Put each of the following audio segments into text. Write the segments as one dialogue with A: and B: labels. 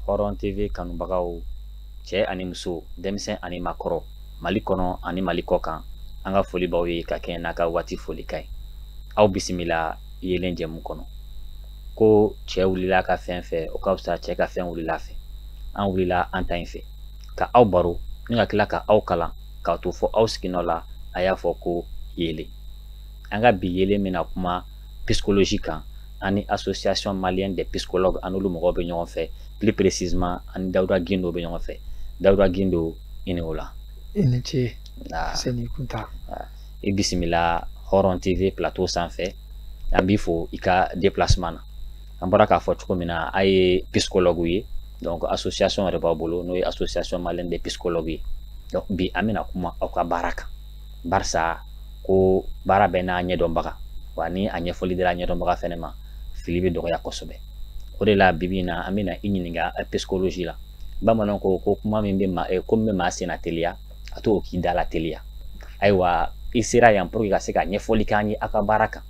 A: Hɔrɔn TV kanubagaw cɛ ani muso denmisɛn ani makɔrɔ Mali kɔnɔ ani Mali kɔkan an ka foli b'aw ye ka kɛɲɛ n'a ka waati folikan ye aw bisimila yeelen jɛmu kɔnɔ ko cɛ wulila ka fɛn fɛ o ka fisa cɛ ka fɛn wulila fɛ an wulila an ta in fɛ ka aw baro ni ka tila ka aw kalan k'a to fɔ aw siginɔ la a y'a fɔ ko yeelen an ka bi yeelen bɛna kuma psychologie kan ani association malienne des psychologues an n'olu mɔgɔw bɛ ɲɔgɔn fɛ plus précisément an ni dawuda gindo bɛ ɲɔgɔn fɛ dawuda gindo i ni wula i ni ce
B: sɛni kunta i bisimila
A: hɔrɔn tv plateau sanfɛ an b'i fo i ka déplacement na an bɔra k'a fɔ cogo min na a ye psychologue ye donc association yɛrɛ b'a bolo n'o ye association malienne des psychologues ye donc bi an bɛna kuma aw ka baara kan barisa ko baara bɛɛ n'a ɲɛdɔnbaga wa ni a ɲɛfɔli dira ɲɛdɔnbaga fɛnɛ ma fili bɛ dɔgɔya kosɛbɛ o de la bibi in na an bɛna i ɲininka psychologie la bamananw ko ko kuma min bɛ maa ko min bɛ maa senna teliya a to o k'i dala teliya ayiwa i sera yan pour que ka se ka ɲɛfɔli k'an ye aw ka baara kan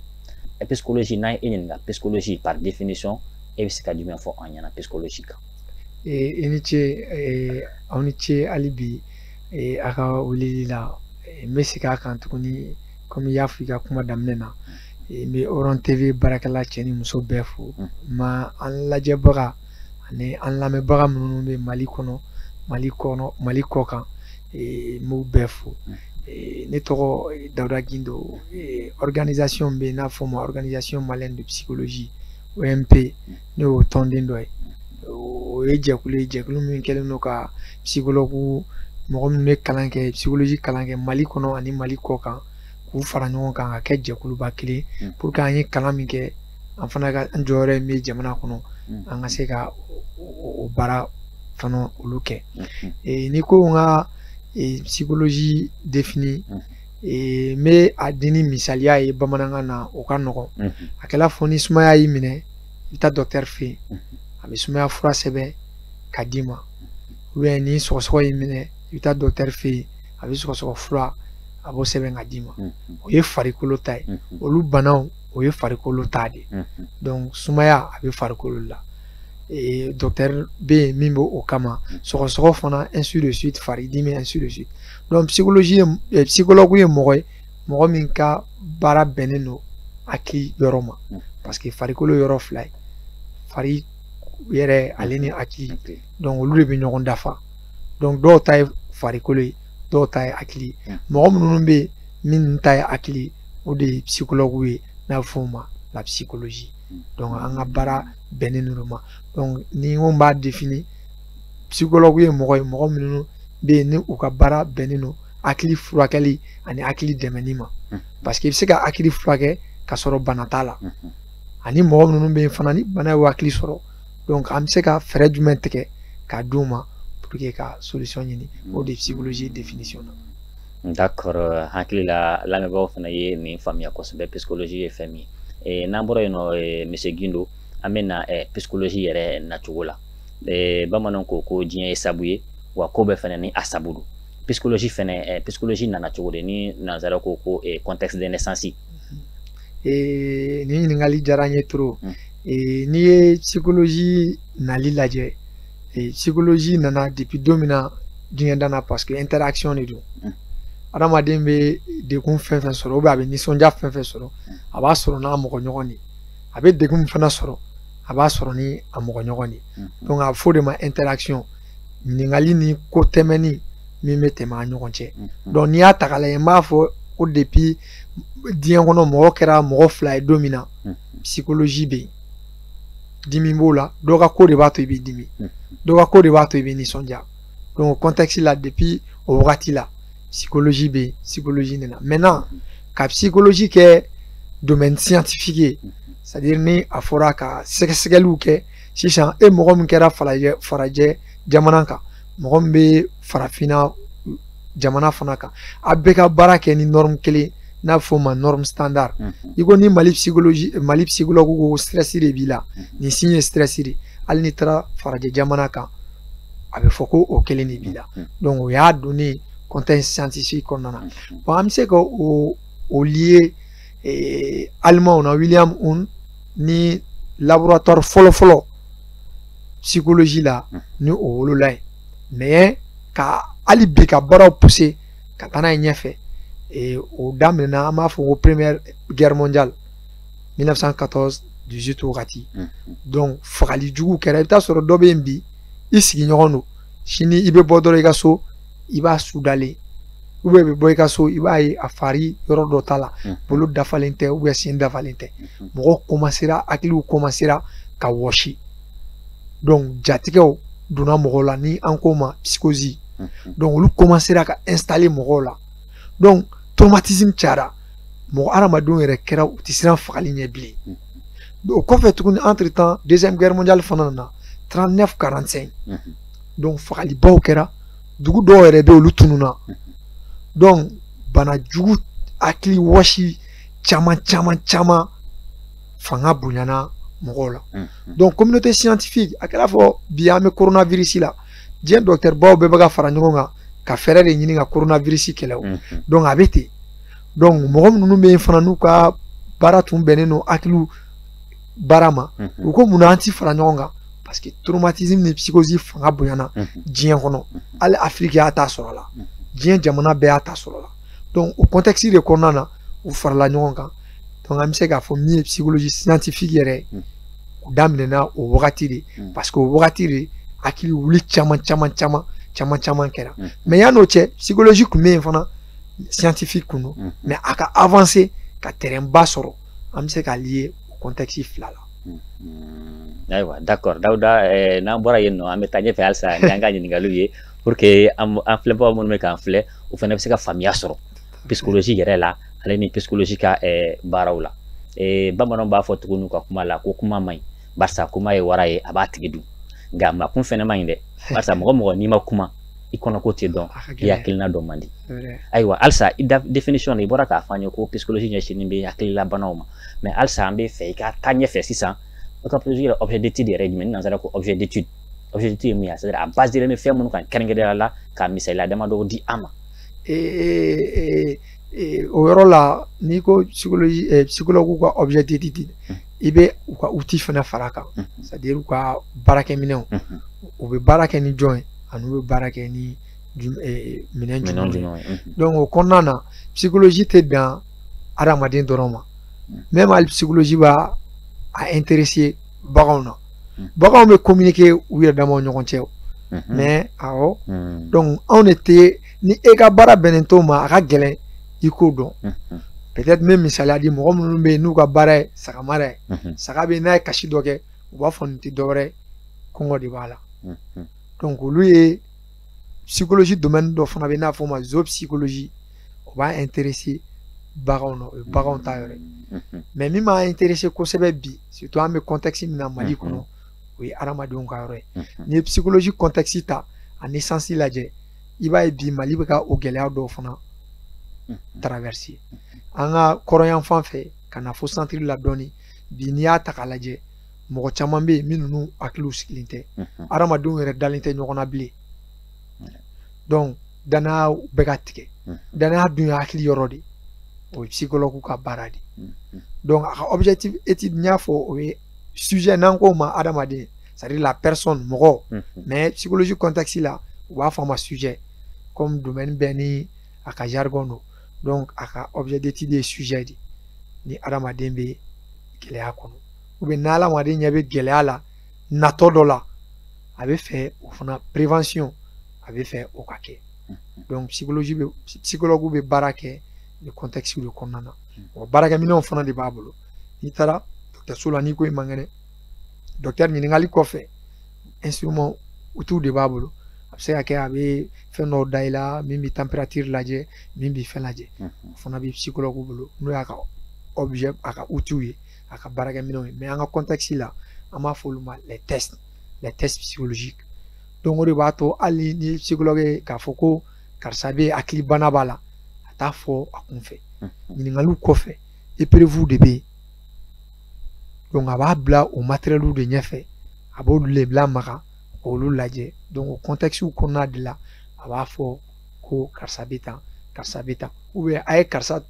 A: psychologie n'an ye i ɲininka psychologie par définition e bɛ se ka jumɛn fɔ an ɲɛna psychologie kan i ni
B: ce aw ni ce hali bi a ka wulili la n bɛ segin a kan tuguni komi i y'a fɔ i ka kuma daminɛ na n bɛ hɔrɔn tv baarakɛla cɛ ni muso bɛɛ fo ma an lajɛbaga ani an lamɛnbaga minnu bɛ mali kɔnɔ mali kɔkan n b'u bɛɛ fo ne tɔgɔ dawuda gindo organisation bɛ yen n'a fɔ ma organisation malienne de psychologie omp ne y'o tɔnden dɔ ye o ye jɛkulu ye jɛkulu min kɛlen don ka psychologue mɔgɔ minnu bɛ kalan kɛ psychologie kalan kɛ mali kɔnɔ ani mali kɔkan k'u fara ɲɔgɔn kan ka kɛ jɛkuluba kelen pour que an ye kalan min kɛ an fana ka an jɔyɔrɔ min bɛ jamana kɔnɔ mm. an ka se ka o baara fana olu kɛ mm-hmm. eh, ni ko n ka eh, psychologie définir mm-hmm. eh, n bɛ a di ni misaliya ye bamanankan na o ka nɔgɔn mm-hmm. a kɛla fɔ ni sumaya y'i minɛ i bɛ taa docteur fɛ yen a bɛ sumaya fura sɛbɛn ka d'i ma ou bien ni sɔgɔsɔgɔ y'i minɛ i bɛ taa docteur fɛ yen a bɛ sɔgɔsɔgɔ fura a b'o sɛbɛn ka d'i ma o ye farikolo ta ye olu banaw o ye farikolo ta de ye donc sumaya a bɛ farikolo la docteur bɛ yen min bɛ o kama sɔgɔsɔgɔ fana ainsi de suite faridimi ainsi de suite donc psychologie ye psychologue ye mɔgɔ ye mɔgɔ min ka baara bɛnnen don hakili yɔrɔ ma parce que farikolo yɔrɔ fila ye fari yɛrɛ ale ni hakili donc olu de bɛ ɲɔgɔn dafa donc dɔw ta ye farikolo ye dɔw ta ye hakili ye mɔgɔ minnu bɛ yen min ta ye hakili ye o de ye psychologue ye n'a fɔ o ma la psychologie hmm. donc an ka baara bɛnnen ninnu ma donc ni n ko n b'a défini psychologue ye mɔgɔ ye mɔgɔ minnu bɛ yen ni u ka baara bɛnnen don hakili furakɛli ani hakili dɛmɛni ma hmm. parce que i bɛ se ka hakili furakɛ ka sɔrɔ bana t'a la hmm. ani mɔgɔ minnu bɛ yen fana ni bana ye hakili sɔrɔ donc an bɛ se ka fɛɛrɛ jumɛn tigɛ k'a d'u ma pour que ka solution ɲini o de ye psychologie définition na D'accord
A: hakili la lamɛnbaaw fana ye nin faamuya kosɛbɛ psychologie ye fɛn min ye eh, n'an bɔra yen nɔ eh, monsieur Gindo an bɛ na eh, psychologie yɛrɛ nacogo la eh, bamananw ko ko diɲɛ ye sabu ye wa ko bɛɛ fana ni a sabu don psychologie fɛnɛ eh, psychologie nana cogo di ni nansara ko ko eh, contexte de naissance eh,
B: nin ɲininkali diyara n ye trop eh, n'i ye psychologie nali lajɛ Et psychologie nana depuis don min na diɲɛ danna parce que interaction de don mm. adamaden bɛ degun fɛn fɛn sɔrɔ ou bien a bɛ nisɔndiya fɛn fɛn sɔrɔ mm. a b'a sɔrɔ n'a mɔgɔ ɲɔgɔn de a bɛ degun min fana sɔrɔ a b'a sɔrɔ ni a mɔgɔ ɲɔgɔn de mm. donc a bɛ fɔ o de ma interaction ɲininkali ni ko tɛmɛni min bɛ tɛmɛ an ɲɔgɔn cɛ donc n'i y'a ta k'a lajɛ n b'a fɔ ko depuis diɲɛ kɔnɔ mɔgɔ kɛra mɔgɔ fila ye don min na psychologie bɛ yen dimi b'o la dɔ ka ko de b'a to i bɛ dimi hmm. dɔ ka ko de b'a to i bɛ nisɔndiya donc contexte la depuis o wagati la psychologie bɛ yen psychologie nana maintenant ka psychologie kɛ domaine scientifique ye hmm. c'est à dire ni a fɔra ka sɛgɛsɛgɛliw kɛ sisan e mɔgɔ min kɛra falajɛ farajɛ jamana kan mɔgɔ min bɛ farafinna jamana fana kan a bɛɛ ka baara kɛ ni norme kelen n'a fɔ o ma norme standard i ko ni mali psychologie mali psychologue ko stress de b'i la nin signe ye stress de hali n'i taara farajɛ jamana kan a bɛ fɔ ko o kelen de b'i la donc o y'a don nin contexte scientifique kɔnɔna na bon an bɛ se ka o o lier alimanw na William Wundt ni laboratoire fɔlɔfɔlɔ psychologie la ni o wolola ye mais ka hali bi ka baaraw pousser ka taa n'a ye ɲɛfɛ e, o daminɛna an b'a fɔ ko première guerre mondiale 1914 18 wagati donc fagali jugu kɛra i bɛ taa sɔrɔ dɔ bɛ yen bi i sigiɲɔgɔn don sini i bɛ bɔ dɔrɔn i ka so i b'a su dalen i bɛ bɔ i ka so i b'a ye a fari yɔrɔ dɔ t'a la bolo dafalen tɛ sen dafalen tɛ mɔgɔw commencera hakiliw commencera ka wɔsi donc jatigɛw donna mɔgɔw la ni an k'o ma psychose mhm. donc olu commencera ka installer mɔgɔw la donc traumatisme cayara mɔgɔ hadamadenw yɛrɛ kɛra u tɛ siran fagali ɲɛ bilen mhm. o kɔfɛ tuguni entre temps deuxième guerre mondiale fana nana 39 45 mhm. donc fagalibaw kɛra dugu dɔw yɛrɛ bɛ olu tununa donc bana jugu hakili wɔsi caman caman caman fanga bonyana mɔgɔw la donc communauté scientifique a kɛra fɔ bi an bɛ coronavirus la diɲɛ docteur baw bɛɛ bɛ ka fara ɲɔgɔn kan ka fɛɛrɛ de ɲini ka coronavirus kɛlɛ o donc a bɛ ten donc mɔgɔ minnu bɛ yen fana n'u ka baara tun bɛnnen don hakiliw baara ma u ko munna an ti fara ɲɔgɔn kan parce que traumatisme ni psychose fanga bonyana diɲɛ kɔnɔ hali afiriki y'a ta sɔrɔ la diɲɛ jamana bɛɛ y'a ta sɔrɔ la donc o contexte de kɔnɔna na u farala ɲɔgɔn kan donc an bɛ se k'a fɔ min ye psychologie scientifique yɛrɛ hmm. o daminɛna o wagati de hmm. parce que o wagati de hakili wuli caman caman caman caman caman kɛra hmm. mais yanni o cɛ psychologie tun bɛ yen fana scientifique kun don mais a ka avancer ka terrain ba sɔrɔ an bɛ se k'a lier o contexte fila
A: la. ayiwa d'accord Dawuda eh, n'an bɔra yen nɔ an bɛ taa ɲɛfɛ halisa ni an ka ɲininkaliw ye pour que an filɛbagaw minnu bɛ k'an filɛ u fana bɛ se ka faamuya sɔrɔ. psychologie yɛrɛ la ale ni psychologie ka baaraw la bamananw b'a fɔ tuguni u ka kuma la ko kuma man ɲi barisa kuma ye wara ye a b'a tigi dun nka makun fɛnɛ man ɲi dɛ barisa mɔgɔ mɔgɔ n'i ma kuma i kɔnɔ ko tɛ dɔn i hakilina dɔn man di ayiwa halisa i ka définition i bɔra k'a fɔ an ye ko psychologie ɲɛsinnen bɛ hakililabanaw ma mais halisa an b'a fɛ i ka taa ɲɛfɛ sisan o ka psychologie yɛrɛ objet d'étude yɛrɛ ye jumɛn ni nanzara ko objet d'étude objet d'étude ye mun ye a basé bɛ fɛn minnu kan kɛrɛnkɛrɛnnenya la ka misaliya damadɔ di an ma
B: o yɔrɔ la n'i ko psychologue ka objet d'étude i bɛ u ka outil fana fara kan c'est-à-dire u ka baarakɛminɛnw u bɛ baara kɛ ni jɔn ye ani u bɛ baara kɛ ni minɛn jumɛn ye donc o kɔnɔna na psychologie tɛ dan adamaden dɔrɔn ma même hali psychologie b'a a baganw na hmm. baganw bɛ communiquer u yɛrɛ damaw ɲɔgɔn cɛ hmm. mais awɔ hmm. donc anw de tɛ ni e ka baara bɛnnen t'o ma a ka gɛlɛn i k'o dɔn peut-être n bɛ misaliya di mɔgɔ minnu bɛ yen n'u ka baara ye saga mara ye saga bɛ n'a ye kasi dɔ kɛ u b'a fɔ nin tɛ dɔwɛrɛ ye kɔngɔ de b'a la donc olu ye psychologie domaine dɔ fana bɛ yen n'a fɔ o ma zoopsychologie o b'a interesse baganw na o ye baganw ta yɔrɔ ye mais min b'a interesse kosɛbɛ bi surtout an bɛ contexte min na Mali kɔnɔ o ye adamadenw ka yɔrɔ ye n'i ye psychologie contexte ta a naissance lajɛ i b'a ye bi Mali bɛ ka o gɛlɛya dɔw fana traverser an ka kɔrɔnyanfan fɛ ka na fo centre la dɔɔni bi n'i y'a ta k'a lajɛ mɔgɔ caman bɛ yen minnu n'u hakiliw sigilen tɛ adamadenw yɛrɛ dalen tɛ ɲɔgɔn na bilen donc danaya bɛ ka tigɛ danaya dun ye hakili yɔrɔ de o ye psychologue ka baara de donc a ka objet d'étude n y'a fɔ o ye sujet n'an k'o ma adamaden c'est à dire la personne mɔgɔ mais psychologie contexte la u b'a fɔ a ma sujet comme domaine bɛɛ ni a ka jargon don donc a ka objet d'étude ye sujet de ni adamaden bɛ gɛlɛya kɔnɔ ou bien n'adamaden ɲɛ bɛ gɛlɛya la natɔ dɔ la a bɛ fɛ o fana prévention a bɛ fɛ o ka kɛ donc psychologie bɛ psychologue bɛ baara kɛ nin contexte de kɔnɔna na wa baarakɛminɛnw fana de b'a bolo n'i taara dɔgɔtɔrɔso la n'i ko i man kɛnɛ dɔgɔtɔrɔ ɲininkali kɔfɛ instrument outil de b'a bolo a bɛ se ka kɛ a bɛ fɛn dɔw da i la min bɛ température lajɛ min bɛ fɛn lajɛ o fana bɛ psychologue bolo n'o y'a ka objet a ka outil ye a ka baarakɛminɛnw ye mais an ka contexte la an b'a fɔ olu ma les tests les tests psychologiques donc o de b'a to hali ni psychologue ye k'a fɔ ko karisa bɛ hakilibana b'a la a t'a fɔ a kunfɛ ɲininkaliw kɔfɛ épreuve de bɛ yen donc a b'a bila o matériel de ɲɛfɛ a b'olu le bila maga k'olu lajɛ donc o contexte kɔnɔna de la a b'a fɔ ko karisa bɛ tan karisa bɛ tan ou bien a ye karisa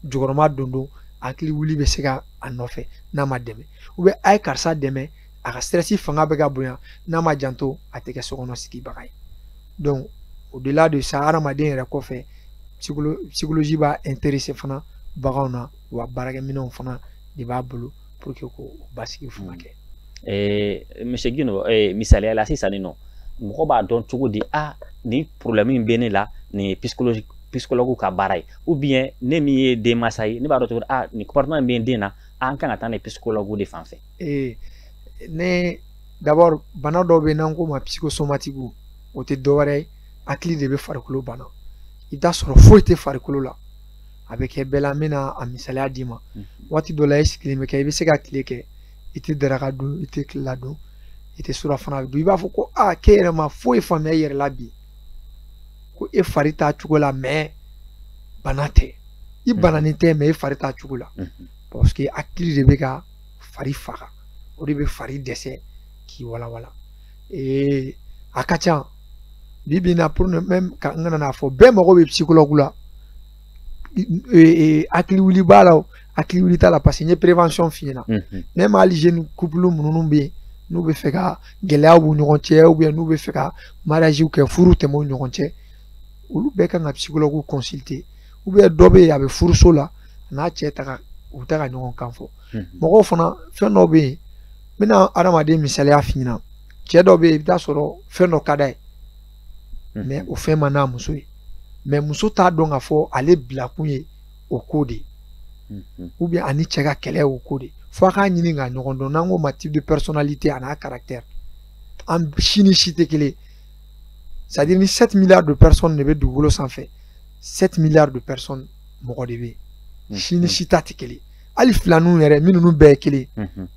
B: jukɔrɔma dondon hakili wuli bɛ se ka a nɔfɛ n'a ma dɛmɛ ou bien a ye karisa dɛmɛ a ka stress fanga bɛ ka bonya n'a ma janto a tɛ kɛ sokɔnɔ sigibaga ye donc au delà de ça hadamaden yɛrɛ kɔfɛ psychologie b'a interesse fana baganw na wa baarakɛminɛnw fana de b'a bolo pour que ko basigi furakɛ hmm. monsieur
A: guindo misaliya la sisan nin nɔ mɔgɔ b'a dɔn cogo di a nin problème min bɛ ne la nin ye psychologue ka baara ye ou bien ne min ye denmansa ye ne b'a dɔn cogo di a nin comportement min bɛ n den na an kan ka taa n'a ye psychologue de fan fɛ
B: ne d'abord bana dɔw bɛ yen n'an k'o ma psychosomatique o tɛ dɔwɛrɛ ye hakili de bɛ farikolo bana i bɛ t'a sɔrɔ foyi tɛ farikolo la a bɛ kɛ bɛɛ la n bɛna a misaliya d'i ma waati dɔ la i sigilen bɛ kɛ i bɛ se ka tile kɛ i tɛ daraka dun i tɛ tilela dun i tɛ surafana dun i b'a fɔ ko aa k'e yɛrɛ ma foyi faamuya i yɛrɛ la bi ko e fari t'a cogo la mais bana tɛ i bananen tɛ mais e fari t'a cogo la parce que hakili de bɛ ka fari faga o de bɛ fari dɛsɛ k'i walawala ee a ka ca bi bi in na pour même ka n kana n'a fɔ bɛɛ mago bɛ psychologue la hakili wuli b'a la o hakili wuli t'a la parce que n ye prévention f'i ɲɛna même hali jeune couple minnu bɛ yen n'u bɛ fɛ ka gɛlɛyaw b'u ɲɔgɔn cɛ ou bien n'u bɛ fɛ ka mariage kɛ furu tɛmɛ u ɲɔgɔn cɛ olu bɛɛ kan ka psychologue consulter ou bien dɔ bɛ yen a bɛ furuso la a n'a cɛ tɛ ka u tɛ ka ɲɔgɔn kan fɔ mɔgɔw fana fɛn dɔ bɛ yen n bɛna adamaden misaliya f'i ɲɛna cɛ dɔ bɛ yen i bɛ taa sɔrɔ fɛn dɔ ka d'a ye hmm. mais o fɛn man d'a muso ye mais muso t'a dɔn k'a fɔ ale bilakun ye o ko de ye hmm. ou bien ani cɛ ka kɛlɛ o ko de ye fo a k'a ɲini ka ɲɔgɔn dɔn n'an k'o ma type de personnalité a n'a caractère an si ni si tɛ kelen ye c'est à dire ni 7 milliards de personnes de bɛ dugukolo sanfɛ 7 milliards de personnes mɔgɔ de bɛ yen si ni si ta tɛ kelen ye hali filaninw yɛrɛ minnu bɛɛ ye kelen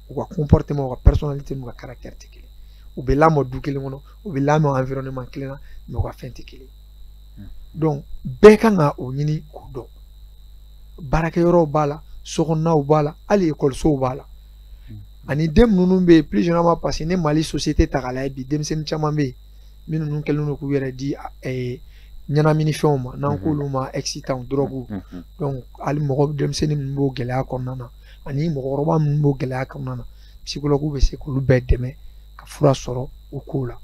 B: u ka comportement u ka personnalité n'u ka caractère tɛ kelen u bɛ lamɔ du kelen kɔnɔ u bɛ lamɔ environnement kelen na mais u ka fɛn tɛ kelen donc bɛɛ kan ka o ɲini k'o dɔn baarakɛyɔrɔw b'a la sokɔnɔnaw b'a la hali ekɔlisow b'a la ani den minnu bɛ yen plus généralement parce que ni mali société ta k'a lajɛ bi denmisɛnnin caman bɛ yen minnu ninnu kɛlen don k'u yɛrɛ di ɲɛnaminifɛnw ma n'an mhm. k'olu ma excitantw dɔrɔgu mhm, mhm. donc hali mɔgɔ denmisɛnnin minnu b'o gɛlɛya kɔnɔna na ani mɔgɔkɔrɔba minnu b'o gɛlɛya kɔnɔna na psychologue bɛ se k'olu bɛɛ dɛmɛ ka fura sɔrɔ o kow la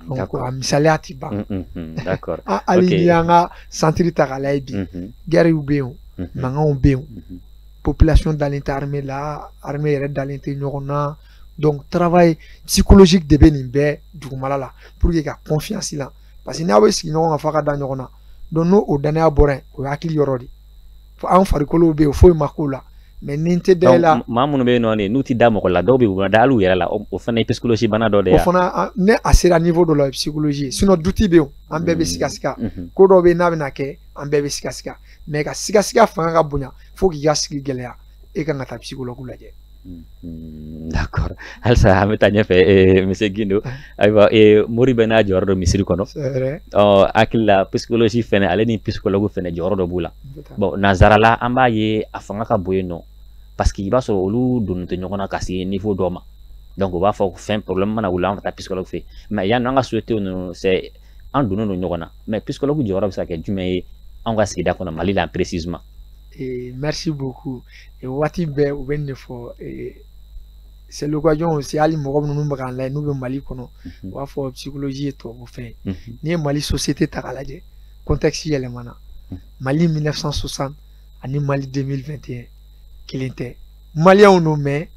B: donc a misaliya tɛ ban hali n'i y'an ka centre ta k'a lajɛ bi guerrew bɛ yen o mankanw bɛ yen o population dalen tɛ armée la armée yɛrɛ dalen tɛ ɲɔgɔn na donc travail psychologique de bɛ nin bɛɛ dugumala la pour que ka confiance la parce que n'aw bɛ sigi ɲɔgɔn kan f'a ka da ɲɔgɔn na donc n'o o danaya bɔra yen o ye hakili yɔrɔ de fɔ an farikolow bɛ yen foyi ma k'o la mais ni n tɛ da i la maa minnu bɛ yen nɔ n'u
A: tɛ da mɔgɔ la dɔw bɛ yen u tɛ da hali u yɛrɛ la o fana ye psychologie bana dɔ de ye o fana n'a
B: sera niveau dɔ la o ye psychologie ye sinon doute bɛ yen an bɛɛ bɛ sikasika ko dɔw bɛ yen n'a bɛna kɛ an bɛɛ bɛ sikasika mais ka sikasika fanga ka bonya fo k'i ka sigi gɛlɛya e kan ka taa psychologue lajɛ
A: Mm, d'accord halisa an bɛ taa ɲɛfɛ eh, monsieur guindo ayiwa e eh, mori bɛ n'a jɔyɔrɔ dɔ misiri kɔnɔ o hakili la oh, psychologie fɛnɛ ale ni psychologue fɛnɛ jɔyɔrɔ dɔ b'u la bon nansarala an b'a ye a fanga ka bon yen nɔ parce que i b'a sɔrɔ olu donnen tɛ ɲɔgɔn na ka se niveau dɔ ma donc u b'a fɔ ko fɛn problème mana wuli an ka taa psychologue fe mais yanni an ka société ninnu c'est an donnen don ɲɔgɔn na mais psychologue jɔyɔrɔ bɛ se ka kɛ jumɛn ye an ka sigida kɔnɔ mali la précisement ee
B: merci beaucoup ee waati bɛɛ u bɛ nin de fɔ ee c'est l'occasion aussi hali mɔgɔ minnu bɛ k'an lajɛ n'u bɛ mali kɔnɔ u b'a fɔ psychologie ye tubabu fɛn ye n'i ye mali société ta k'a lajɛ contexte yɛlɛmana mali 1960 ani mali 2021 kelen tɛ maliyɛnw don mais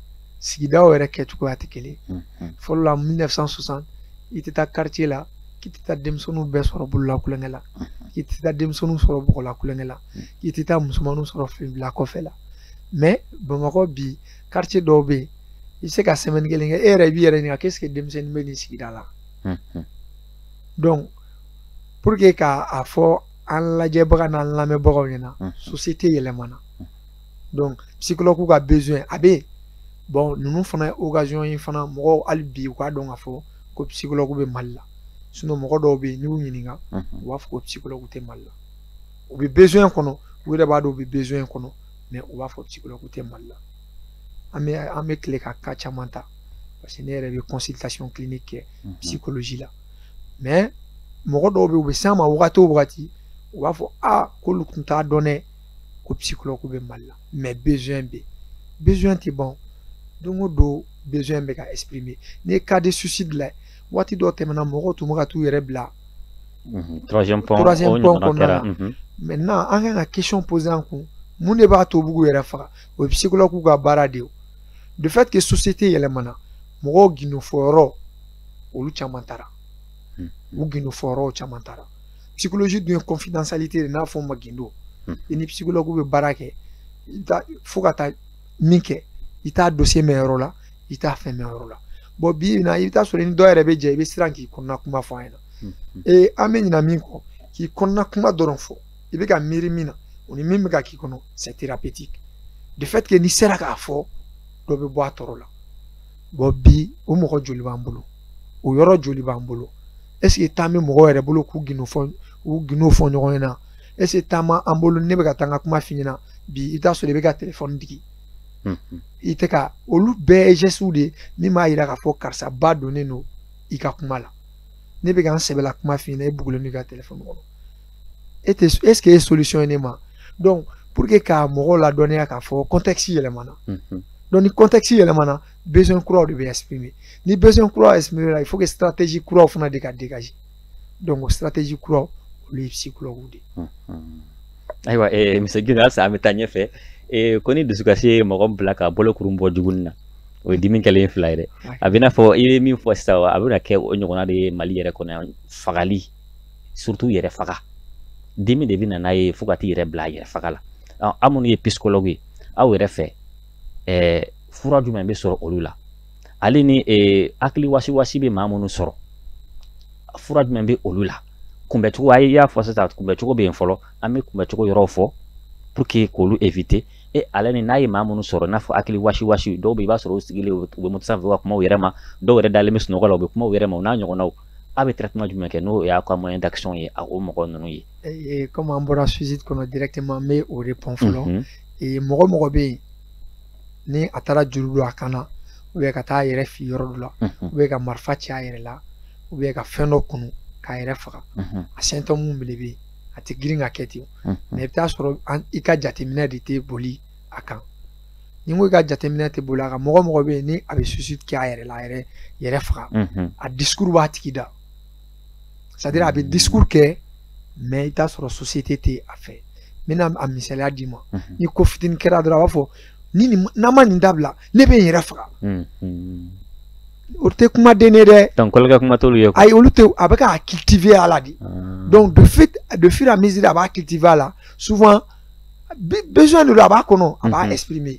B: sigidaw yɛrɛ kɛcogoya tɛ kelen fɔlɔ la 1960 i tɛ taa quartier la k'i tɛ taa denmisɛnninw bɛɛ sɔrɔ bɔlɔn la tulonkɛ la k'i tɛ taa denmisɛnninw sɔrɔ bɔgɔla tulonkɛ la k'i tɛ taa musomanninw sɔrɔ filibila kɔfɛ la mais bamakɔ bi quartier dɔw bɛ yen i bɛ se ka semaine kelen kɛ e yɛrɛ i b'i yɛrɛ ɲininka k'est-ce que denmisɛnnin bɛ nin sigida la donc pour que k'a fɔ an lajɛbaga n'an lamɛnbagaw ɲɛna société yɛlɛmana donc psychologue ka besoin a bɛ yen bon ninnu fana ye occasion ye fana mɔgɔw hali bi u k'a dɔn k'a fɔ ko psychologue bɛ mali la sinon mɔgɔ dɔw bɛ yen n'i y'u ɲininka u b'a fɔ ko psychologue tɛ mali la u bɛ besoin kɔnɔ u yɛrɛ b'a dɔn u bɛ besoin kɔnɔ mais u b'a fɔ psychologue tɛ mali la an bɛ an bɛ tile ka cas caman ta parce que ne yɛrɛ bɛ consultation clinique kɛ mhm. psychologie la mais mɔgɔ dɔw bɛ yen u bɛ s'an ma wagati o wagati u b'a fɔ a k'olu tun t'a dɔn dɛ ko psychologue bɛ mali la mais besoin bɛ yen besoin tɛ ban don o don besoin bɛ ka exprimer n'i ye cas de suicide lajɛ waati dɔ tɛmɛna mɔgɔw tun bɛ ka t'u yɛrɛ bila
A: troisième pont kɔnɔna la
B: maintenant an kan ka question poser an kun mun de b'a to u b'u yɛrɛ faga o ye psychologue ka baara de ye de fait que société yɛlɛmana mɔgɔw gindo fɔyɔrɔ olu caman taara hmm. u gindo fɔyɔrɔw caman taara psychologie dun ye confidentialité de n'a fɔ ma gindo hmm. i ni psychologue bɛ baara kɛ i bɛ taa fo ka taa min kɛ i t'a dossier mɛn yɔrɔ la i t'a fɛn mɛn yɔrɔ la bon bi in na i bɛ t'a sɔrɔ ni dɔ yɛrɛ bɛ jɛ i bɛ siran k'i kɔnɔna kuma fɔ a ɲɛna ee an bɛ ɲina min kɔ k'i kɔnɔna kuma dɔrɔn fɔ i bɛ ka miiri min na o ni min bɛ ka k'i kɔnɔ c'est thérapeutique de fait que n'i sera k'a fɔ dɔ bɛ bɔ a tɔɔrɔ la bon bi o mɔgɔ joli b'an bolo o yɔrɔ joli b'an bolo est ce que temps bɛ mɔgɔw yɛrɛ bolo k'u gindo fɔ u gindo fɔ ɲɔgɔn ɲɛna est ce que temps b'an bolo ne bɛ ka taa n ka kuma f'i ɲɛna bi i bɛ t'a sɔrɔ i bɛ ka telefɔni digi i tɛ ka olu bɛɛ ye gestes de ye min b'a yira k'a fɔ karisa ba donnen don i ka kuma la ne bɛ ka n sɛbɛla kuma f'i ɲɛna e bugulen don i ka telefɔni kɔnɔ e tɛ est ce que e solution ye ne ma donc pour que ka mɔgɔw ladɔnniya k'a fɔ contexte yɛlɛmana donc ni contexte yɛlɛmana besoin kuraw de bɛ exprimer ni besoin kuraw exprimer la il faut que stratégie kuraw fana de ka dégager donc stratégie kuraw olu ye psychologue de
A: ye ayiwa monsieur gina halisa an bɛ taa ɲɛfɛ ko ni dusukasi ye mɔgɔ bila ka bolokuru bɔ jugunin na o ye dimi kɛlen fila ye dɛ a bɛ n'a fɔ i ye min fɔ sisan a bɛna kɛ o ɲɔgɔnna de ye mali yɛrɛ kɔnɔ yan fagali surtout yɛrɛ faga dimi de bɛ na n'a ye fo ka t'i yɛrɛ bila yɛrɛ faga la aw minnu ye psychologue ye aw yɛrɛ fɛ fura jumɛn bɛ sɔrɔ olu la ale ni eh, hakili wasiwasi bɛ maa minnu sɔrɔ fura jumɛn bɛ olu la kunbɛcogo a y'a fɔ sisan kunbɛcogo bɛ yen fɔlɔ an bɛ kunbɛcogo yɔrɔw fɔ pour que k'olu éviter e ale ni n'a ye maa minnu sɔrɔ n'a fɔ hakili wasi wasi dɔw bɛ i b'a sɔrɔ u sigilen u bɛ moto sanfɛ u ka kuma u yɛrɛ ma dɔw yɛrɛ dalen bɛ sunɔgɔ la u bɛ kuma u yɛrɛ ma o n'a ɲɔgɔnnaw a bɛ traitement jumɛn kɛ n'o y'a ka moyen d'action ye a o mɔgɔ ninnu ye. Eh, eh, comme an bɔra suicide
B: kɔnɔ directement n bɛ o répond fɔlɔ mɔgɔ o mɔgɔ bɛ yen ni a taara juru don a kan na ou bien ka taa a yɛrɛ fili yɔrɔ dɔ la ou bien ka marifa ci a yɛrɛ la ou bien ka fɛn dɔ kunu k'a yɛrɛ faga a symptôme minnu bɛ yen a tɛ girin ka kɛ ten mais i bɛ t'a sɔrɔ i ka jateminɛ de tɛ boli a kan ni n ko i ka jateminɛ tɛ boli a kan mɔgɔ o mɔgɔ bɛ yen ni a bɛ suicide kɛ a yɛrɛ la a yɛrɛ yɛrɛ faga a discours b'a tigi da c'est à dire a bɛ discours kɛ mais i t'a sɔrɔ société tɛ a fɛ n bɛna a misaliya d'i ma ni ko fitinin kɛra dɔrɔn a b'a fɔ ni nin n'a ma nin dabila ne bɛ n yɛrɛ faga o tɛ kumaden ye dɛ donc tulonkɛ kuma t'olu
A: ye ayi olu tɛ a bɛ
B: k'a cultiver a la de donc de fait de fur et à mesure a b'a cultiver a la souvent besoin de don a b'a kɔnɔ a b'a exprimer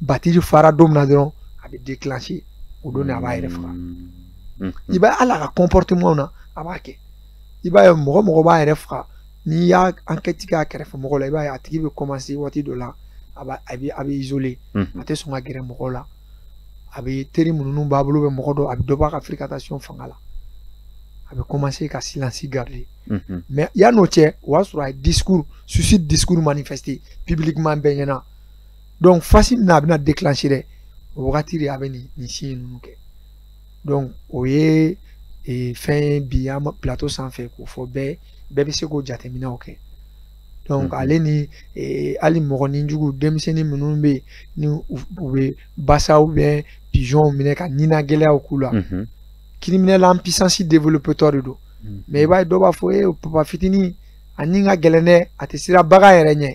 B: batiri fara don min na dɔrɔn a bɛ déclencher o don de a b'a yɛrɛ faga mm. i b'a hali a ka comportementw na a b'a kɛ i b'a ye mɔgɔ o mɔgɔ b'a yɛrɛ faga n'i y'a enquête kɛ a kɛrɛfɛ mɔgɔ la i b'a ye a tigi bɛ commencer waati dɔ la a b'a a bɛ a bɛ isoler mm-hmm. a tɛ sɔn ka gɛrɛ mɔgɔw la a bɛ teri minnu b'a bolo bɛ mɔgɔ dɔ a bɛ dɔ bɔ a ka fréquentation fanga la a bɛ commencer ka silence garder mm-hmm. mais yann'o cɛ o y'a sɔrɔ a ye discours suicide discours manifester publiquement bɛɛ ɲɛna donc phase min na a bɛna declencher dɛ o wagati de a bɛ nin nin signe ninnu kɛ donc o ye ee, fɛn ye bi an plateau sanfɛ k'o fɔ bɛɛ bɛɛ bɛ se k'o jateminɛw kɛ donc mm-hmm. ale ni ee, hali mɔgɔ nijugu denmisɛnnin minnu bɛ yen ni u bɛ basa ou bien pigeon minɛ ka nina gɛlɛyaw k'u la mm-hmm. criminel en puissance développertɔ de don mm-hmm. mais i b'a ye dɔw b'a fɔ ee papa fitinin a ni ka gɛlɛn dɛ a tɛ siran bagan yɛrɛ ɲɛ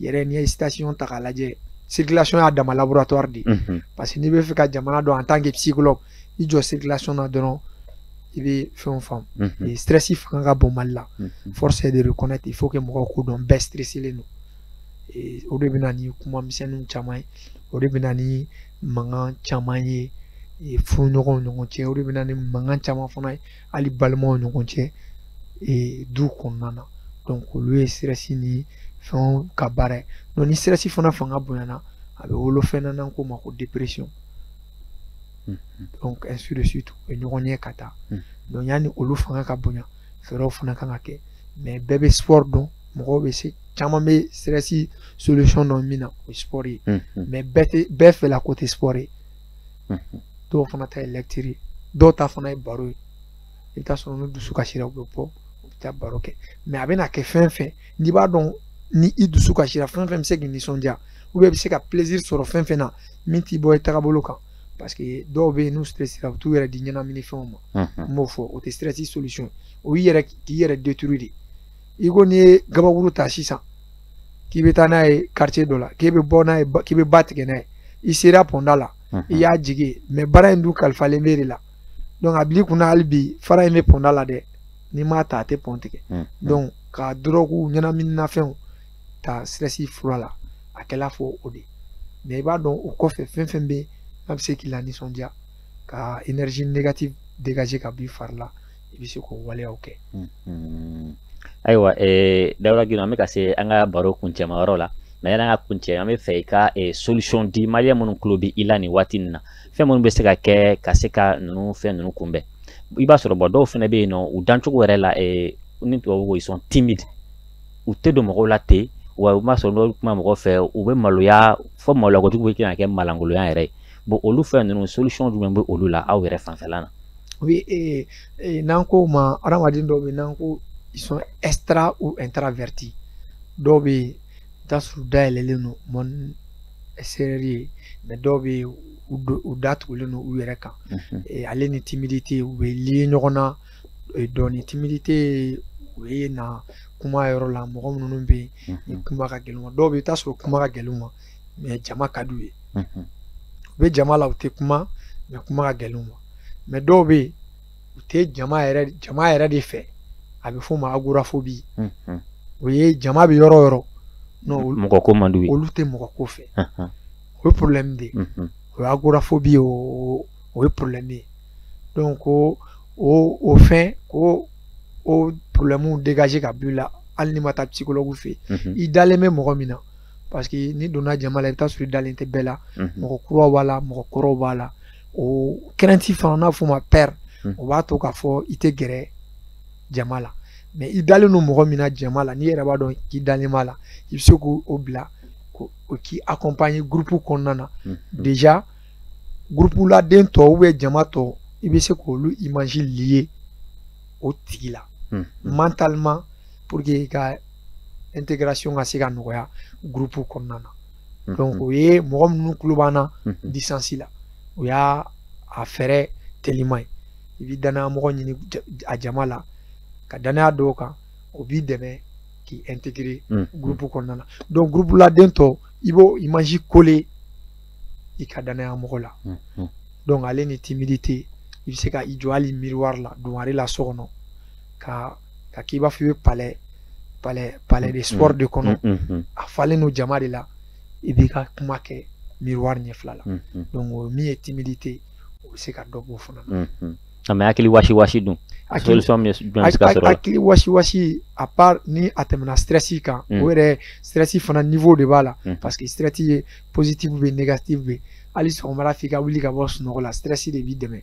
B: yɛrɛ n'i ye station ta k'a lajɛ circulation y'a dama laboratoire de ye parce que n'i bɛ fɛ ka jamana dɔn en tant que psychologue i jɔ circulation na dɔrɔn i bɛ fɛnw faamu ni stress fanga ka bon mali la force est de reconnaître il faut que mɔgɔw k'o dɔn bɛɛ stresselen don o de bɛ na ni kuma misɛnninw caman ye o de bɛ na ni mankan caman ye furuɲɔgɔnw ɲɔgɔn cɛ o de bɛ na ni mankan caman fana ye hali balimaw ɲɔgɔn cɛ ee, du kɔnɔna na donc olu ye stress ni fɛnw ka baara ye donc ni stress fana fanga bonyana a bɛ wolo fɛn na n'an k'o ma ko dépression hmm, hmm. donc ainsi de suite u bɛ ɲɔgɔn ɲɛ ka taa hmm. donc yanni olu fanga ka bonya fɛɛrɛw fana kan ka kɛ mais bɛɛ bɛ sport dɔn mɔgɔw bɛ se caman bɛ stress solution dɔn min na o ye sport ye mais bɛɛ tɛ bɛɛ fɛla ko tɛ sport ye dɔw fana ta ye lecture ye dɔw ta fana ye baro ye i bɛ taa sɔrɔ n'u dusu kasira u bɛ bɔ u bɛ taa baro kɛ mais a bɛna kɛ fɛn fɛn n'i b'a dɔn ni i dusu kasira fɛn fɛn bɛ se k'i nisɔndiya i bɛ se ka plaisir sɔrɔ fɛn fɛn na min t'i bɔ i tagabolo kan parce que dɔw bɛ yen n'u stressera u t'u yɛrɛ di ɲɛnamini fɛnw ma n b'o fɔ o tɛ stress solution ye o y'i yɛrɛ k'i yɛrɛ détruire de i ko n'i ye gabakuru ta sisan k'i bɛ taa n'a ye quartier dɔ la k'e bɛ bɔ n'a ye k'i bɛ ba tigɛ n'a ye i sera pɔnda la i y'a jigin mais baara in dun kalifalen b'e de la donc a bil'i kunna hali bi fara in bɛ pɔnda la dɛ n'i m'a ta a tɛ pɔn tigɛ donc ka dɔrɔguw ɲɛnaminimafɛnw ta stress fura la a kɛla fɔ o de mais i b'a dɔn o kɔfɛ fɛn fɛn bɛ n'a bɛ se k'i lanisɔndiya ka énergie négative dégager ka b'i fari la i bɛ se k'o waleyaw
A: kɛ ayiwa dawuda gindo an bɛ ka se an ka baro kuncɛma yɔrɔ la mais yanni an ka kuncɛ an bɛ fɛ i ka solution di maliyɛn minnu tulo bɛ i la nin waati nin na fɛn minnu bɛ se ka kɛ ka se ka ninnu fɛn ninnu kunbɛn i b'a sɔrɔ bon dɔw fana bɛ yen nɔ u dancogo yɛrɛ la ni tubabu ko ils sont timides u tɛ don mɔgɔw la ten wa u b'a sɔrɔ n'o kuma mɔgɔ fɛ u bɛ maloya fɔ maloya kojugu bɛ kɛ ka kɛ malankolonya yɛrɛ ye bon olu fɛn ninnu solution jumɛn bɛ olu la aw yɛrɛ fanfɛla la oui
B: ee ee n'an k'o ma hadamaden dɔw bɛ n'an ko ils sont extra ou intravertis dɔw bɛ yen i t'a sɔrɔ u dayɛlɛlen don monde extérieur ye mais dɔw bɛ yen u do- u datugulen don u yɛrɛ kan Mhm. Eh, ale ni timidité u bɛ lier ɲɔgɔn na eh, dɔɔni timidité o ye na kuma yɔrɔ la mɔgɔ minnu bɛ yen ni Mhm. kuma ka gɛlɛn u ma dɔw bɛ yen i bɛ t'a sɔrɔ kuma ka gɛlɛn u ma mais jama ka d'u ye u bɛ jama la u tɛ kuma mais kuma ka gɛlɛn u ma mais dɔw bɛ yen u tɛ jama yɛrɛ jama yɛrɛ de fɛ a bɛ f'o ma agoraphobie o ye jama bɛ yɔrɔ yɔrɔ mɔgɔ ko
A: man d'u ye olu tɛ mɔgɔ ko
B: fɛ o ye problème de ye o ye agoraphobie ye o ye problème ye donc ko o o fɛn ko o problème dégager ka b'i la hali n'i ma taa psychologue fɛ yen i dalen bɛ mɔgɔ min na parce que n'i donna jama la i bɛ taa sɔrɔ i dalen tɛ bɛɛ la mɔgɔ kuraw b'a la mɔgɔ kɔrɔw b'a la o crainte fana n'a f'o ma peur o b'a to k'a fɔ i tɛ gɛrɛ jama la mais i dalen don mɔgɔ min na jama la n'i yɛrɛ b'a dɔn k'i dalen b'a la i bɛ se k'o bila ko o k'i accompagner groupe kɔnɔna na déjà groupe la den tɔ ou bien jama tɔ i bɛ se k'olu image lier o tigi la mentalement pour que i ka intégration ka se ka nɔgɔya groupe kɔnɔna na mhm. donc o ye mɔgɔ minnu tulo b'an na mhm. distance la o y'a fɛɛrɛ teliman ye i bɛ danaya mɔgɔ ɲini a jama la ka danaya d'o kan o b'i dɛmɛ k'i intégrer mhm. groupe kɔnɔna na donc groupe la den tɔ i b'o image coller i ka danaya mɔgɔ la donc ale ni timidité i bɛ se ka i jɔ hali miroir la dungare la so kɔnɔ ka ka k'i b'a fɔ i bɛ palais palais palais des sports de kɔnɔ a falen don jama de la i b'i ka kuma kɛ miroir ɲɛfɛla la donc o min ye timidité o bɛ se ka dɔ b'o fana na a mais hakili wasi
A: wasi dun solution min jumɛn bɛ se ka sɔr'o la hakili wasi wasi
B: à part ni a tɛmɛna stress kan o yɛrɛ stress fana niveau de b'a la parce que stress ye positif bɛ yen négatif bɛ yen hali sɔgɔmada f'i ka wuli ka bɔ sunɔgɔ la stress de b'i dɛmɛ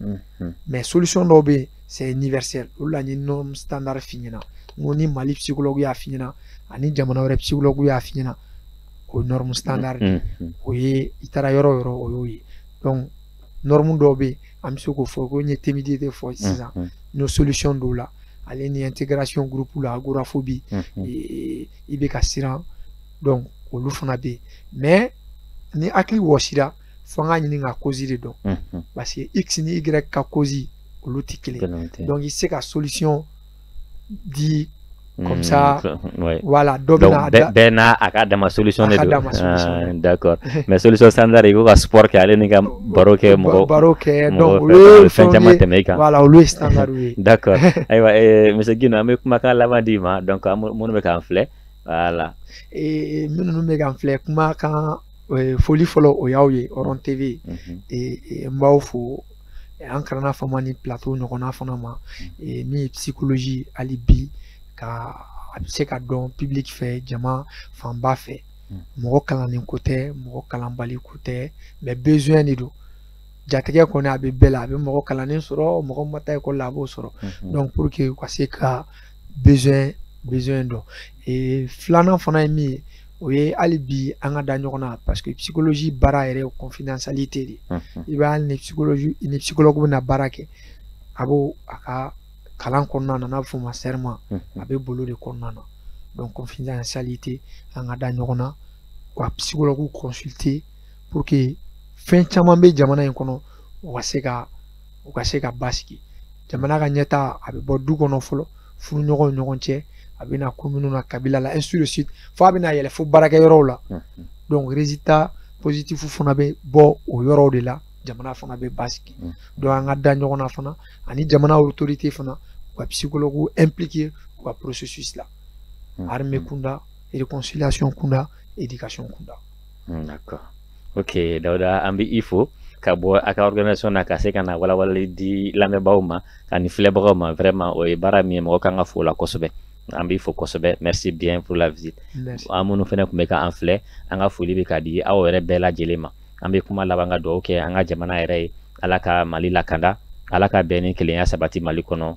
B: Mhm. mais solution dɔw bɛ yen c'est universel olu la n ye norme standard f'i ɲɛna n ko ni mali psychologue y'a f'i ɲɛna ani jamana wɛrɛ psychologue y'a f'i ɲɛna o ye norme standard de ye mhm. o ye i taara yɔrɔ o yɔrɔ o y'o ye donc norme dɔw bɛ yen an bɛ se k'o fɔ ko n ye timidité fɔ sisan n y'o solution dɔw la ale ni intégration groupe la agoraphobie mhm. i bɛ ka siran donc olu fana bɛ yen mais ni hakili wasira fo an k'a ɲini ka cause de dɔn parce que x ni y ka cause olu tɛ kelen donc i tɛ se ka solution di comme ça voilà donc bɛɛ
A: n'a bɛɛ n'a ka dama solution de don ah, d'accord mais solution standard i ko ka sport kɛ ale ni ka baro kɛ mɔgɔ baro kɛ donc olu ye
B: fɛn caman tɛmɛ i kan
A: voilà olu ye standard
B: ye d'accord ayiwa
A: eh, monsieur Guindo an bɛ kumakan laban d'i ma donc minnu bɛ k'an filɛ voilà minnu
B: bɛ k'an filɛ kumakan foli fɔlɔ o y'aw ye hɔrɔn tv n b'aw fo an kana fama nin plateau ɲɔgɔnna fana ma min ye psychologie hali bi ka a bɛ se ka dɔn public fɛ jama fanba fɛ mɔgɔ kalannen ko tɛ mɔgɔ kalanbali ko tɛ mais besoin de don jatigɛ kɔni a bɛ bɛɛ la a bɛ mɔgɔ kalannen sɔrɔ mɔgɔ ma taa école la a b'o sɔrɔ donc pour que u ka se ka besoin besoin dɔn ee filanan fana ye min ye o ye hali bi an ka da ɲɔgɔn na parce que psychologie baara yɛrɛ ye confidentialité de ye i bɛ hali ni psychologue bɛna baara kɛ a b'a ka kalan kɔnɔna na n'a bɛ f'o ma serment a bɛ bolo de kɔnɔna na donc confidentialité an ka da ɲɔgɔn na wa psychologue consulter pour que fɛn caman bɛ jamana in kɔnɔ u ka se ka u ka se ka basigi jamana ka ɲɛtaa a bɛ bɔ du kɔnɔ fɔlɔ furuɲɔgɔnw ɲɔgɔn cɛ a bɛ na commune na kabila la ainsi de suite fo a bɛ na yɛlɛ fo baarakɛyɔrɔw la donc résultat positif fana bɛ bɔ o yɔrɔw de la jamana fana bɛ basigi donc an ka da ɲɔgɔn na fana ani jamana autorité fana u ka psychologue impliquer u ka processus la armée kunda réconciliation kunda éducation kunda Hmm,
A: d'accord. Ok, Dauda, an bɛ i fo ka bɔ a ka organisation na ka se ka na walawalali di lamɛnbaaw ma ani filɛbagaw ma vraiment o ye baara min ye mɔgɔ ka kan ka fo la kosɛbɛ an b'i fo kosɛbɛ merci bien pour la visite aw minnu fana tun bɛ k'an filɛ an ka foli bɛ ka di aw yɛrɛ bɛɛ lajɛlen ma an bɛ kuma laban ka dugawu kɛ an ka jamana yɛrɛ ye ala ka mali lakanda ala ka bɛn ni kelenya sabati mali kɔnɔ